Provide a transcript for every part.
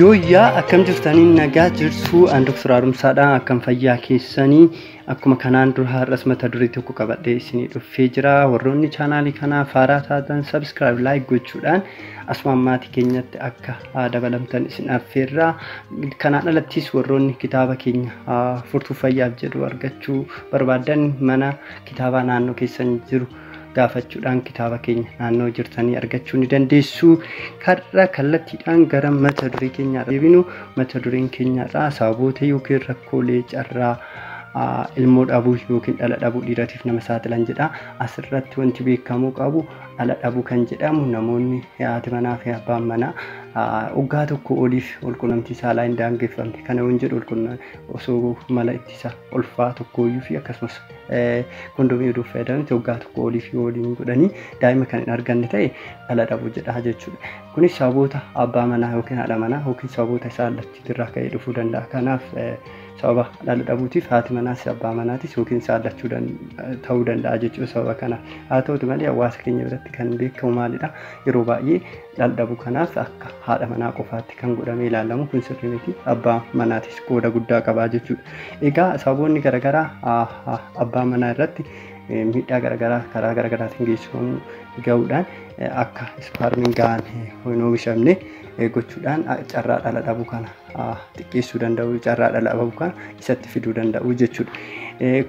Yooyyaa akkam jirtanii nagaa jirtuu an Dr. Haaromsaadha akkam fayyaa keessanii akkuma kanaan dura har'as mata duree tokko qabadhee isinii dhuffee jira warroonni chaanaalii kanaa faaraa taatan sabskiraayib laayik gochuudhaan asumaan maatii keenyatti akka haa dabalamtan isin affeerraa kanaan alattis warroonni kitaaba keenya haa furtuu fayyaaf jedhu argachuu barbaadan mana kitaabaa naannoo keessan jiru gaafachuudhaan kitaaba keenya naannoo jirtanii argachuu ni dandeessu. Karra kallattiidhaan gara mata duree keenyaa deebinu mata dureen keenyaarraa sababoota yookiin rakkoolee carraa ilmoo dhabuu yookiin dhala dhabuu dhiiratiif nama saaxilan jedha. Asirratti wanti beekamuu qabu dhala dhabuu kan jedhamu namoonni haati manaa fi abbaan manaa waggaa tokko oliif walqunnamtii saalaa hin daangeffamne kana hin jedhu osoo mala ittisa ulfaa tokkooyyuu fi akkasumas kondomii uduuf fayyadamanitti waggaa tokko olii fi waliin godhanii daa'ima kan hin arganne ta'e dhala dhabuu jedha jechuudha. Kunis sababoota abbaa manaa yookiin haadha manaa yookiin sababoota isaa allachuutirraa ka'ee dhufuu danda'a. Kanaaf sababa dhala dhabuutiif haati manaas abbaa manaatis yookiin isaa allachuu ta'uu danda'a jechuudha sababa kana. Haa ta'utu malee hawaasa keenya biratti kan beekamu maalidha? Yeroo baay'ee dhaldhabu kanaas akka haadha manaa qofaatti kan godhamee ilaalamu kun sirrii miti abbaa manaatis qooda guddaa qabaa jechuudha egaa sababoonni garagaraa abbaa manaa irratti miidhaa garagaraa karaa garagaraatiin geessifamu ga'uudhaan akka ispaarmiin ga'aan hin oomishamne gochuudhaan carraa dhala dhabu kana xiqqeessuu danda'u carraa dhala ababukaa isatti fiduu danda'u jechuudha.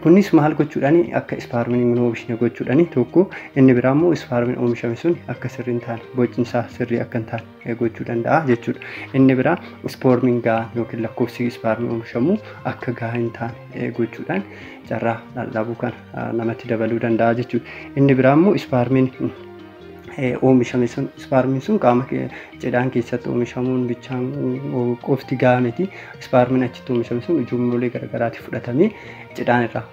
Kunis maal gochuudhaan akka ispaarmiin hin oomishne gochuudhaan tokko inni biraa immoo ispaarmiin oomishame sun akka sirrii hin taane bocni isaa sirrii akka hin taane gochuu danda'a jechuudha. Inni biraa ispoormiin gahaa yookiin lakkoofsi ispaarmiin oomishamu akka gahaa hin taane gochuudhaan carraa dhala ababuu kana namatti dabaluu danda'a jechuudha. Inni biraa immoo ispaarmiin oomishame sun ispaarmiin sun qaama cidhaan keessatti oomishamuun bichaan qofti gahaa miti ispaarmiin achitti oomishame sun ujummoolee garagaraatti fudhatamee cidhaan irraa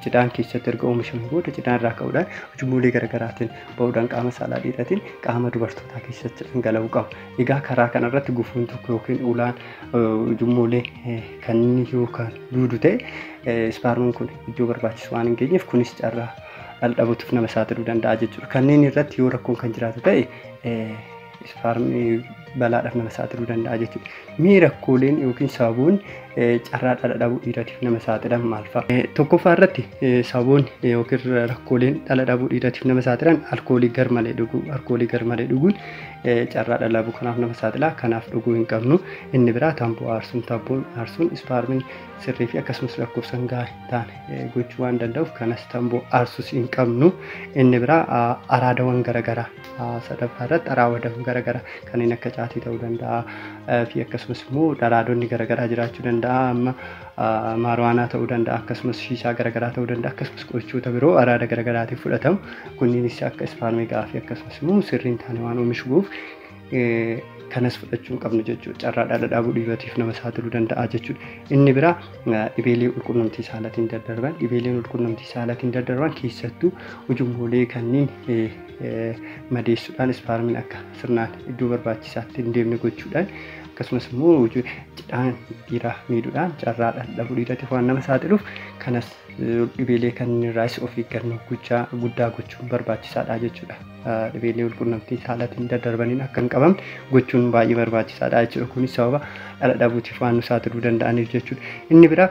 cidhaan keessatti erga oomishame booda cidhaan irraa ka'uudhaan ujummoolee garagaraatiin ba'uudhaan qaama saalaa dhiiratiin qaama dubartootaa keessatti dhangala'uu qaba. Egaa karaa kanarratti gufuun tokko yookiin ulaan ujummoolee kanneen yoo kan duudu ta'e ispaarmiin kun iddoo barbaachisu waan hin geenyeef kunis carraa dhaldhabuutiif nama saaxiluu danda'a jechuudha. Kanneen irratti yoo rakkoon kan jiraatu ta'e ispaarmii balaadhaaf nama saaxiluu danda'a jechuudha. Mee rakkooleen yookiin sababoonni carraa dhala dhabuu dhiiratiif nama saaxilan maal fa'a? Tokkoffaa irratti sababoonni yookiin rakkooleen dhala dhabuu dhiiratiif nama saaxilan alkoolii garmalee dhuguu. Alkoolii garmalee dhuguun carraa dhala dhabuu kanaaf nama saaxila. Kanaaf dhuguu hin qabnu. Inni biraa tamboo aarsuun tamboon aarsuun ispaarmiin sirrii fi akkasumas lakkoofsan gahaa taane gochuu waan danda'uuf kanas tamboo aarsus hin qabnu inni biraa araadawan garagaraa sadaffaa irratti araadawan garagaraa kanneen akka caatii ta'uu danda'a fi akkasumas immoo dharaadonni garagaraa jiraachuu danda'a amma maarwaanaa ta'uu danda'a akkasumas shiishaa garagaraa ta'uu danda'a akkasumas qorichoota biroo araada garagaraatiif fudhatamu kunniinis akka ispaarmeegaa fi akkasumas immoo sirriin taane waan oomishuuf kanas fudhachuu qabnu jechuudha. Carraa dhala dhaabuu dhiirotiif nama saaxiluu danda'a jechuudha. Inni biraa dhibeelee walqunnamtii saalatiin daddarban dhibeeleen walqunnamtii saalatiin daddarban keessattuu ujummoolee kanneen madeessuudhaan ispaarmiin akka sirnaan iddoo barbaachisaatti hin deemne gochuudhaan akkasumas immoo cidhaan dhiiraa miidhuudhaan carraa dhala dhabuu dhiiratiif waan nama saaxiluuf kanas dhibeelee kanneen irraas of eeggannoo guddaa gochuun barbaachisaadha jechuudha. dhibeelee walqunnamtii saalaatiin daddarbaniin akka hin qabamne gochuun baay'ee barbaachisaadha jechuudha. Kunis sababa dhala dhabuutiif waan nu saaxiluu danda'aniif jechuudha. Inni biraa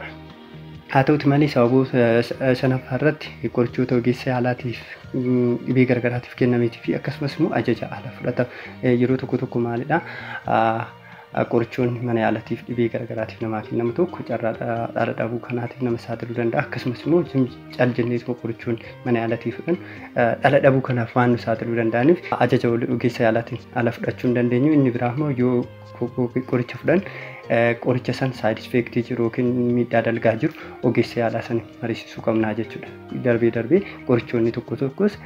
haa ta'uti malee sababoota shanaffaa irratti qorichoota ogeessa yaalaatiif dhibee garagaraatiif kennameetii fi akkasumas immoo ajaja ala fudhatama yeroo tokko tokko maalidha Qorichoonni mana yaalaatiif dhibee garaagaraatiif namaa kennamu tokko carraa dhaala dhabuu kanaatiif nama saaxiluu danda'a. Akkasumas immoo cal jennee tokko qorichoonni mana yaalaatiif fudhan dhala dhabuu kanaaf waan nu saaxiluu danda'aniif ajaja ogeessa yaalaatiin ala fudhachuu hin dandeenyu. Inni biraa immoo yoo qoricha fudhan qoricha san saayid effeektii jiru yookiin miidhaa dalgaa jiru ogeessa yaalaa sana mariisisuu qabna jechuudha. darbee darbee qorichoonni tokko tokkos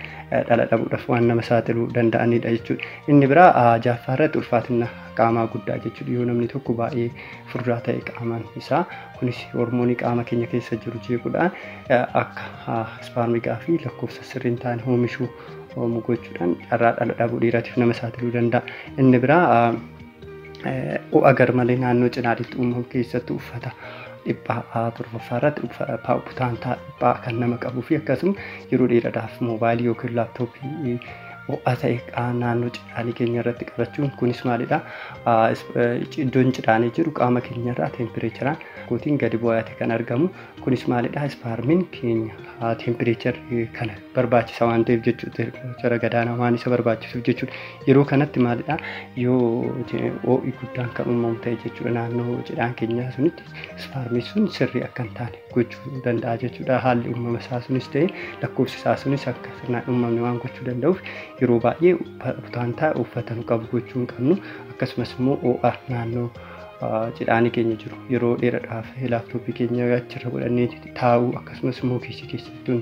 dhala dhabuudhaaf waan nama saaxiluu danda'anidha jechuudha. Inni biraa jaaffaa irratti ulfaatina qaamaa guddaa jechuudha. Yoo namni tokko baay'ee furdaa ta'e qaamaan isaa kunis hormoonii qaama keenya keessa jiru jeequudhaan akka ispaarmigaa fi lakkoofsa sirriin taane oomishuu gochuudhaan carraa dhala dhabuu dhiiraatiif nama saaxiluu danda'a. Inni biraa ho'a garmalee naannoo cinaaditti uumamu keessatti uffata dhiphaa torbaffaa irratti putaantaa dhiphaa kan nama qabuu fi akkasuma yeroo dheeraadhaaf moobaayilii yookiin laaptooppii ho'a ta'e naannoo cidhaanii keenya irratti qabachuun kunis maalidha iddoon cidhaanii jiru qaama keenya irraa teempireecharaan kootiin gadi bu'aate kan argamu Kunis maalidha? Ispaarmiin keenya haa tempireecharri kana barbaachisa waan ta'eef jechuudha. Tempireechara gadaanaa waan isa barbaachisuuf jechuudha. Yeroo kanatti maalidha? Yoo ho'i guddaan kan uumamu ta'e jechuudha. Naannoo cidhaan keenyaa sunitti ispaarmiin sun sirrii akka hin taane gochuu danda'a jechuudha. Haalli uumama isaa sunis ta'e lakkoofsi isaa sunis akka sirnaan uumamne waan gochuu danda'uuf yeroo baay'ee butaantaa uffatan qabu gochuu hin qabnu. Akkasumas immoo ho'a naannoo cidhaanii keenya jiru yeroo dheeradhaaf laaptooppii keenya achirra godhannee taa'uu akkasumas immoo keessa keessatti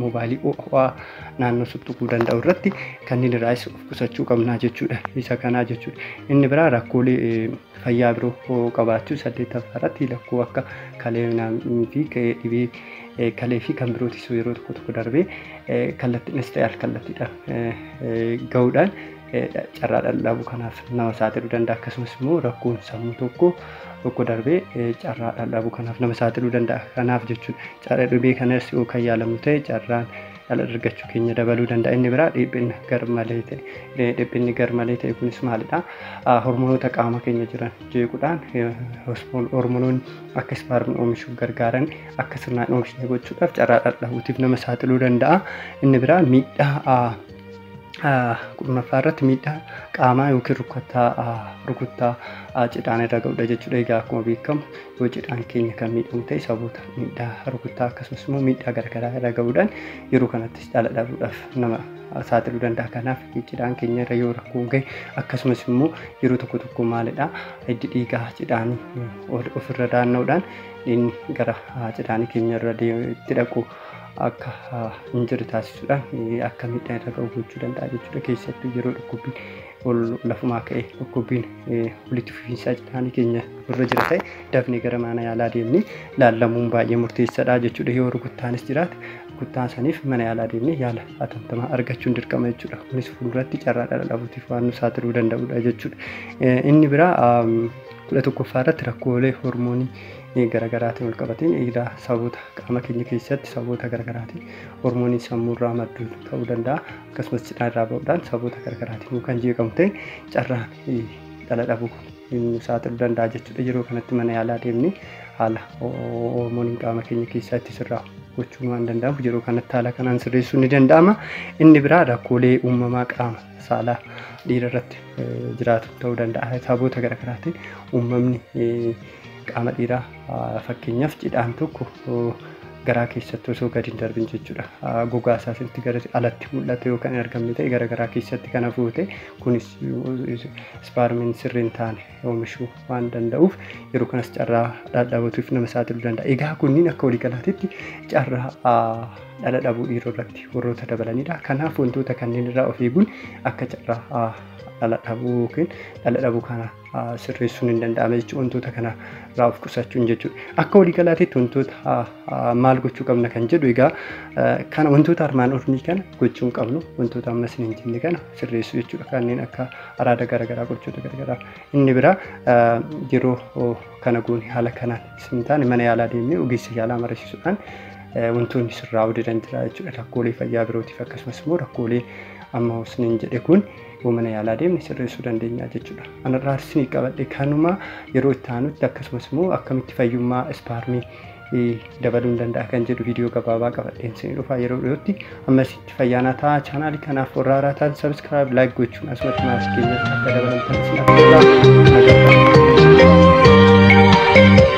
mobaayilii ho'aa naannoo tuttuquu danda'u irratti kanneen irraas of qusachuu qabnaa jechuudha isa kanaa jechuudha inni biraa rakkoolee fayyaa biroo qabaachuu saddeettaffaa irratti lakkoo akka kalee fi dhibee kalee fi kan birootis yeroo tokko tokko darbee kallattiinis ta'e al kallattiidhaan ga'uudhaan carraa dhaldhaabuu kanaaf nama saaxiluu danda'a akkasumas immoo rakkoon sammuu tokko tokko darbee carraa dhaldhaabuu kanaaf nama saaxiluu danda'a kanaaf jechuun carraa dhibee kanas yoo kan yaalamu ta'e carraan dhala argachuu keenya dabaluu danda'a inni biraa dhiphina garmalee ta'e dhiphinni garmalee ta'e kunis maalidha hormonoota qaama keenya jiran jeequudhaan hormonoonni akka ispaarmii oomishuuf gargaaran akka sirnaan oomishne gochuudhaaf carraa dhaldhabuutiif nama saaxiluu danda'a inni biraa miidhaa kurnaffaa irratti miidhaa qaamaa yookiin rukuttaa rukuttaa cidhaan irra ga'udha jechuudha. Egaa akkuma beekamu yoo cidhaan keenya kan miidhamu ta'e saboota miidhaa rukuttaa akkasumas immoo miidhaa garaagaraa irra ga'uudhaan yeroo kanattis dhala dhabuudhaaf nama saaxiluu danda'a. Kanaaf cidhaan keenya irra yoo rakkoon ga'e akkasumas immoo yeroo tokko tokko maalidha hiddi dhiigaa cidhaan ofirra daanna'uudhaan inni gara cidhaan keenya irra deemutti dhaqu. akka hin jirre taasisuudhaan akka miidhaa irra ga'u gochuu danda'a jechuudha. Keessattuu yeroo dhukkubbiin ol lafumaa ka'e dhukkubbiin walitti fufiinsaa jedhaanii keenya irra jira ta'e dafnee gara mana yaalaa deemnee laallamuun baay'ee murteessaadha jechuudha. Yoo rukuttaanis jiraate rukuttaa saniif mana yaalaa deemnee yaala hatattamaa argachuun dirqama jechuudha. Kunis fuulduratti carraa dhala dhabuutiif waan nu saaxiluu danda'udha jechuudha. Inni biraa kudha tokkoffaa irratti rakkoolee hormoonii garagaraatiin walqabateen egaa sababoota qaama keenya keessatti sababoota garagaraatiin hormooniin sammuurraa maddu ta'uu danda'a akkasumas cidhaa irraa ba'uudhaan sababoota garagaraatiin kan jeeqamu ta'e carraan dhala dhabuu nu saaxiluu danda'a jechuudha yeroo kanatti mana yaalaa deemnee haala hormooniin qaama keenya keessatti sirraa gochuun waan danda'amu yeroo kanatti haala kanaan sirreessuun ni danda'ama inni biraa rakkoolee uumamaa qaama saalaa dhiira irratti jiraatu ta'uu danda'a sababoota garaagaraatiin uumamni Qaama dhiiraa fakkeenyaaf cidhaan tokko garaa keessatti osoo gadi hin darbin jechuudha. Gogaa isaa sirriitti gara alatti mul'ate yoo kan hin argamne ta'e gara garaa keessatti kan hafu ta'e kunis ispaarmiin sirrii hin taane oomishuu waan danda'uuf yeroo kanas carraa dhadhabatuuf nama saaxiluu danda'a. Egaa kunniin akka waliigalaatitti carraa dhala dhabuu dhiiroo irratti warroota dabalanidha. Kanaaf wantoota kanneen irraa of eeguun akka carraa dhala dhabuu yookiin dhala dhabuu kana sirreessuun hin danda'ame jechuudha. Wantoota kana irraa of qusachuun jechuudha. Akka waliigalaatiitti wantoota maal gochuu qabna kan jedhu egaa kana wantoota armaan olii kana gochuu hin qabnu wantoota amma isin hin jenne kana sirreessuu jechuudha. Kanneen akka araada garaagaraa gochoota garaagaraa inni biraa yeroo kana goone haala kanaan isin taane mana yaalaa deemnee ogeessa yaalaa mariisisuudhaan wantoonni sirraa hojjetan jira jechuudha. Rakkoolee fayyaa birootiif akkasumas immoo rakkoolee amma isin hin jedhe kun yoo mana yaalaa deemne sirreessuu dandeenya jechuudha. Anarraa isinii qabadhe kanuma yeroo itti aanutti akkasumas immoo akkamitti fayyummaa ispaarmii dabaluun danda'a kan jedhu viidiyoo gabaabaa qabadheen isinii dhufa yeroo dhiyootti ammasitti fayyaanaa ta'a chaanaalii kanaaf warra haaraa ta'an sabiskiraayib laayik gochuun asumatti maasii keenyatti akka dabalamtan isin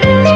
affeerra.